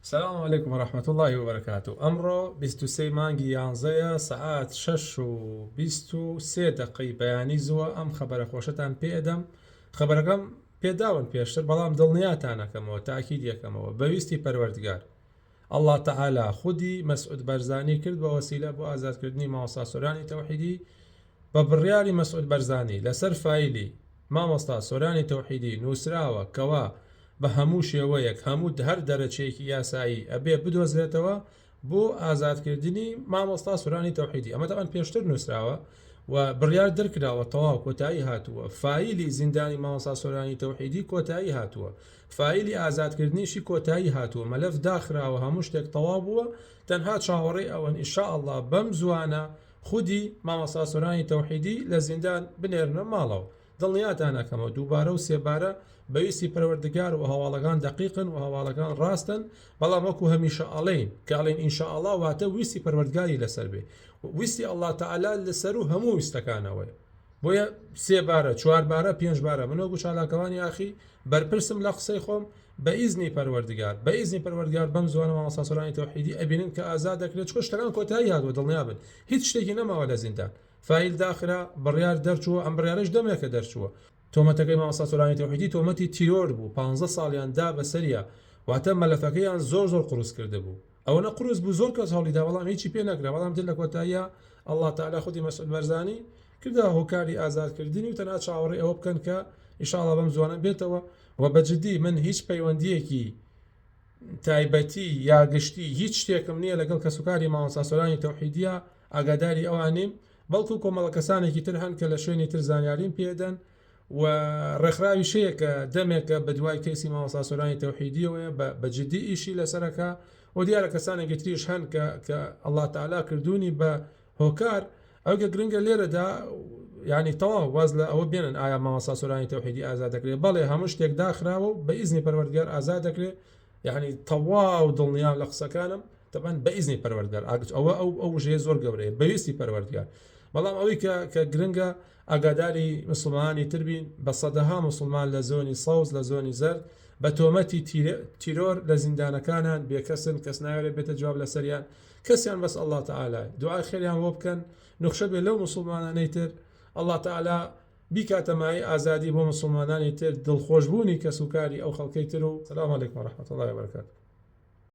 سلام علیکم و رحمە اللە و بەرەکاتوو ئەمڕۆ بیست و سێ ی مانگی یانزەیە سەعات شەش و بیست و سێ دەقەی بەیانی زووە ئەم خەبەرە خۆشەتان پێ ئەدەم خەبەرەکەم پێ داون پێشتر بەڵام دڵنیاتان ئەکەمەوە تاکیدی ئەکەمەوە بە ویستی پەروەردگار اللە تعالی خودی مسعود بەرزانی کرد بە وەسیلە بۆ ئازاد کردنی مامۆستا سۆرانی تەوحیدی بە بڕیاری مەسعود بەرزانی لەسەر فایلی مامۆستا سۆرانی تەوحیدی نوسراوە کەوا بە هەموو شێوەیەک هەموو هەر دەرەچەیەکی یاسایی ئەبێ بدۆزرێتەوە بۆ ئازادکردنی مامۆستا سۆرانی تەوحیدی ئەمە تاوان پێشتر نووسراوە و بڕیار دەرکراوە تەواو کۆتایی هاتووە فایلی زیندانی مامۆستا سۆرانی تەوحیدی کۆتایی هاتووە فایلی ئازادکردنیشی کۆتایی هاتووە مەلەف داخراوە هەموو شتێک تەواو بووە تەنها چاوەڕێی ئەوەن ئیشاء اللە بەم زوانە خودی مامۆستا سۆرانی تەوحیدی لە زیندان بنێرنە ماڵەوە دڵنیاتان ئەکەمەوە دووبارە و سێبارە بەویستی پەروەردگار و هەواڵەکان دەقیقن و هەواڵەکان ڕاستن بەڵام وەکو هەمیشە ئەڵێین کە ئەڵێن ئینشاءاللە واتە ویستی پەروەردگاری لەسەر بێ ویستی اللە تعالی لەسەر و هەموو ویستەکانەوەی بۆیە سێ بارە چوار بارە پێنج بارە من وەگو چالاکەوانی یاخی بەرپرسم لە قسەی خۆم بە ئیزنی پەروەردگار بە ئیزنی پەروەردگار بەم زوانە مامۆستا سۆرانی تەوحیدی ئەبینن کە ئازاد دەکرێت چکە شتەکان کۆتایی هاتووە دڵنیا بن هیچ شتێکی نەماوە لە زیندان فایل داخرا بڕیار دەرچووە ئەم بڕیارش دەمێکە دەرچووە تۆمەتەکەی مامۆستا سۆرانی تەوحیدی تۆمەتی تیرۆر بوو 15 ساڵیان دا بەسەریا واتە مەلەفەکەیان زۆر زۆر قورس کرد بوو ئەوەنە قورس بوو زۆر کەس هەوڵیدا بەڵام هیچی پێ نەکرا بەڵام تر لە کۆتاییە ئەلله تعالی خودی مەسعود بەرزانی کردە هۆکاری ئازادکردنی و تەنها چاوەڕێ ئەوە بکەن کە ئیشاڵا بەم زوانە بێتەوە و بەجددی من هیچ پەیوەندیەکی تایبەتی یا گشتی هیچ شتێکم نییە لەگەڵ کەسوکاری ماوەساسۆرانی تەوحیدیە ئاگاداری ئەوانیم بەڵکو کۆمەڵە کەسانێکی تر هەن کە لە شوێنی تر زانیاریم پێدەن و ڕێکخراویش هەیە کە دەمێکە بە دوای کەیسی مامۆستا سۆرانی تەوحیدیەوەیە بە بە جدی ئیشی لەسەرەکە و دیارە کەسانێکی تریش هەن کە کە ئەڵا تەعالا کردوونی بە هۆکار ئەوگە گرنگە لێرەدا ینی تەواو واز لە ئەوە بێنن ئایا مامۆستا سۆرانی تەوحیدی ئازا دەکرێت بەڵێ هەموو شتێک داخراوە و بە ئیزنی پەروەردگار ئازا دەکرێت یعنی تەواو دڵنیام لە قسەکانم تەبەن بە ئیزنی پەروەردگار ئاگچ ئەوە ئەو ئەو ژێ زۆر گەورەیە بەویستی پەروەردگار بەڵام ئەوەی کە کە گرنگە ئاگاداری مسوڵمانانی تر بین، بە سەدەها مسوڵمان لە زۆنی سەوز لە زۆنی زەرد بە تۆمەتی تیرۆر لە زیندانەکانان بێکەسن کەس نایەوێت بێتە جواب لەسەریان کەسیان بەس اللە تعالی دوعای خێریان بۆ بکەن نوخشە بێت لەو مسوڵمانانەی تر اللە تعالی بیکاتە مایەی ئازادی بۆ مسوڵمانانی تر دڵخۆشبوونی کەسوکاری ئەو خەڵکەی تر و سلام علیکم ورحمة الله وبرکاته